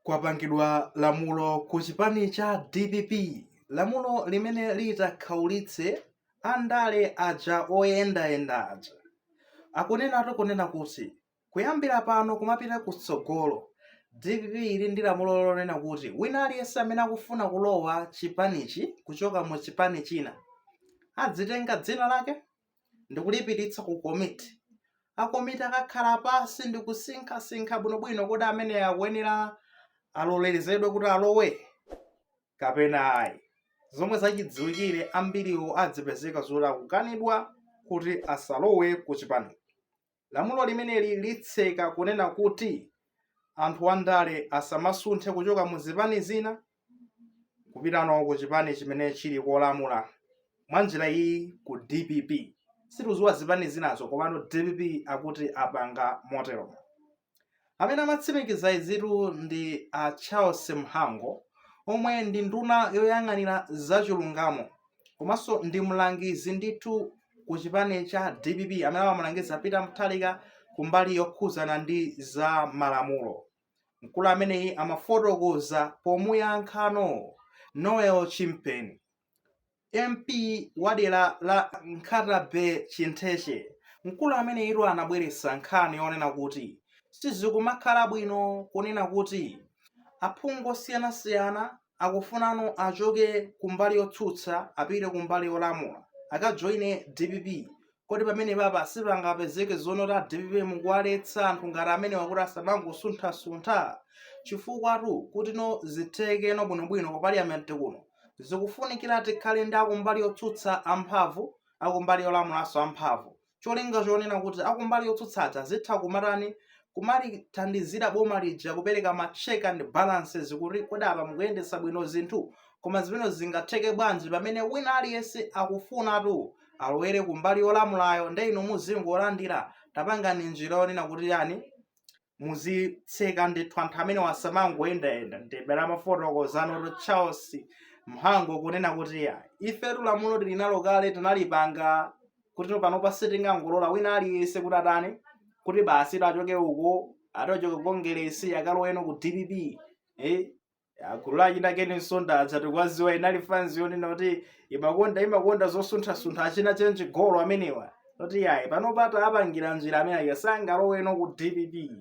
Kwapangidwa lamulo ku chipani cha dpp lamulo limene litakhaulitse andale aja oyendayenda aja. Akunenatu kunena kuti kuyambira pano kumapita kutsogolo, dpp ili ndi lamulo lonena kuti wina aliyense amene akufuna kulowa chipanichi kuchoka mu chipani china, adzitenga dzina lake ndikulipititsa ku komiti. A komiti akakhala pansi ndikusinkhasinkha bwinobwino kuti amene akuyenera alolerezedwe kuti alowe kapena ayi. Zomwe zachidziwikire ambiriwo adzipezeka zoti akukanidwa kuti asalowe ku chipani. Lamulo limeneli litseka kunena kuti anthu andale asamasunthe kuchoka mu zipani zina kupitano ku chipani chimene chili kolamula mwa njira iyi ku dpp situziwa zipani zinazo komano dpp akuti apanga motero Amene amatsimikiza izitu ndi a Charles Mhango omwe ndi nduna yoyang'anira zachilungamo komanso ndi mlangizi ndithu ku chipani cha dpp amene amamulangiza Peter Mutharika kumbali yokhuzana ndi za malamulo. Mkulu ameneyi amafotokoza pomuyankhano Noah Chimpeni. MP wa dera la Nkhata Bay Chintheche, mkulu ameneyitu anabweretsa nkhani yonena kuti sizikumakhala bwino kunena kuti aphungu osiyanasiyana akufunano achoke kumbali yotsutsa apite kumbali yolamula akajoine dpp kodi pamenepapa sipangapezeke zonena kuti a dpp mukuwaletsa anthu ngati amenewa kuti asamangosunthasuntha chifukwatu kutino zithekeno bwinobwino ku parliament kuno zikufunikira tikhale ndi akumbali yotsutsa amphamvu akumbali yolamulanso amphamvu cholinga chonena kuti akumbali yotsutsa aja azitha kumatani kumalithandizira boma lija kupereka ma check and balances kuti kodi apa mukuyendetsa bwino zinthu koma zimene zingatheke bwanji pamene wina aliyense akufunatu alowere kumbali yolamulayo nde inu muzingolandira tapangani njira yonena kuti yani muzitseka ndithu anthu amenewa asamangoyendayenda ndibera amafotokozanotu charles mhango kunena kuti ya ifetu lamulo tili nalo kale tinalipanga kuti panopa sitingangolola wina aliyense kuti atani kuti basi achoke uko atachoke ku kongeresi akaloweno ku dpp eh? a gulu la achina ken msonda aja tikuwaziwa inali fanzi yonena kuti imakonda imakonda zosunthasuntha achina chenji golo amenewa kuti yayi panopa tapangira njira amene aja sangaloweno ku dpp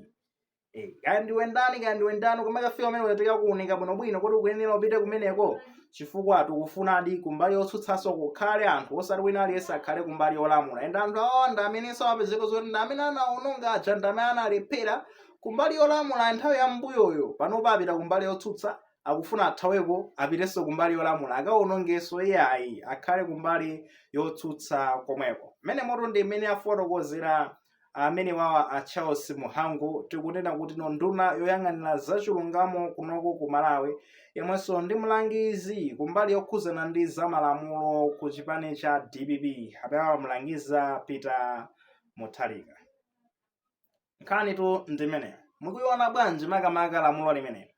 Eh, kaya ndiwe ndani kaya ndiwe ndani koma kafika amenewa tikakuunika bwinobwino kuti ukuyenera upite kumeneko chifukwa tikufunadi kumbali yotsutsanso kukhale anthu osati wina aliyense akhale kumbali yolamula ende anthu awo ndi amenenso apezeka zoti ndi amene anaononga aja ndi amene analephera kumbali yolamula nthawi ya m'mbuyoyo panopa apita kumbali yotsutsa akufuna athaweko apitenso kumbali yolamula akawonongenso iyayi akhale kumbali yotsutsa komweko mmenemotu ndi mmene afotokozera amenewawa a charles mhango tikunena kuti no nduna yoyang'anira zachilungamo kunoko ku malawi yemwenso ndi mlangizi kumbali yokhuzana ndi zamalamulo ku chipani cha dpp amene amamulangiza peter mutharika nkhanitu ndi imeneyo mukuiona bwanji makamaka lamulo limeneli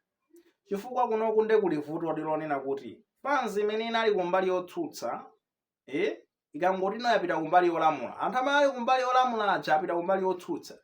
chifukwa kunoku nde kuli vuto lonena kuti fanzi imene inali kumbali yotsutsa eh, ikangoti no yapita kumbali yolamula anthu amene ali kumbali yolamula aja apita kumbali yotsutsa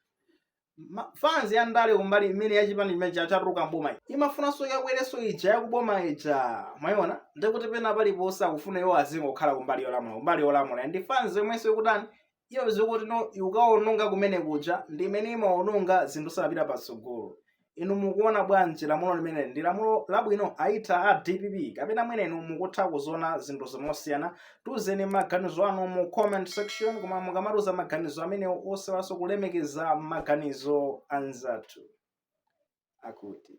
Ma- fanzi ya ndale kumbali imene yachipani chimene cha- chatuluka mboma iyi imafunanso yakwerenso ija yakuboma ija mwayiona ndikuti pena paliponse akufuna iwo azingokhala kumbali yolamula kumbali yolamula ndi fanzi yomwenso ikutani iyo zikuti no ukawononga kumene kuja ndi imene imawononga zinthu sanapite patsogolo inu mukuona bwanji lamulo limene ndi lamulo labwino aitha a dpp kapena mwene inu mukutha kuziona zinthu zi mosiyana tiuzeni maganizo anu mu comment section koma mukamatiuza maganizo amenewo osaiwalanso kulemekeza maganizo anzathu akuti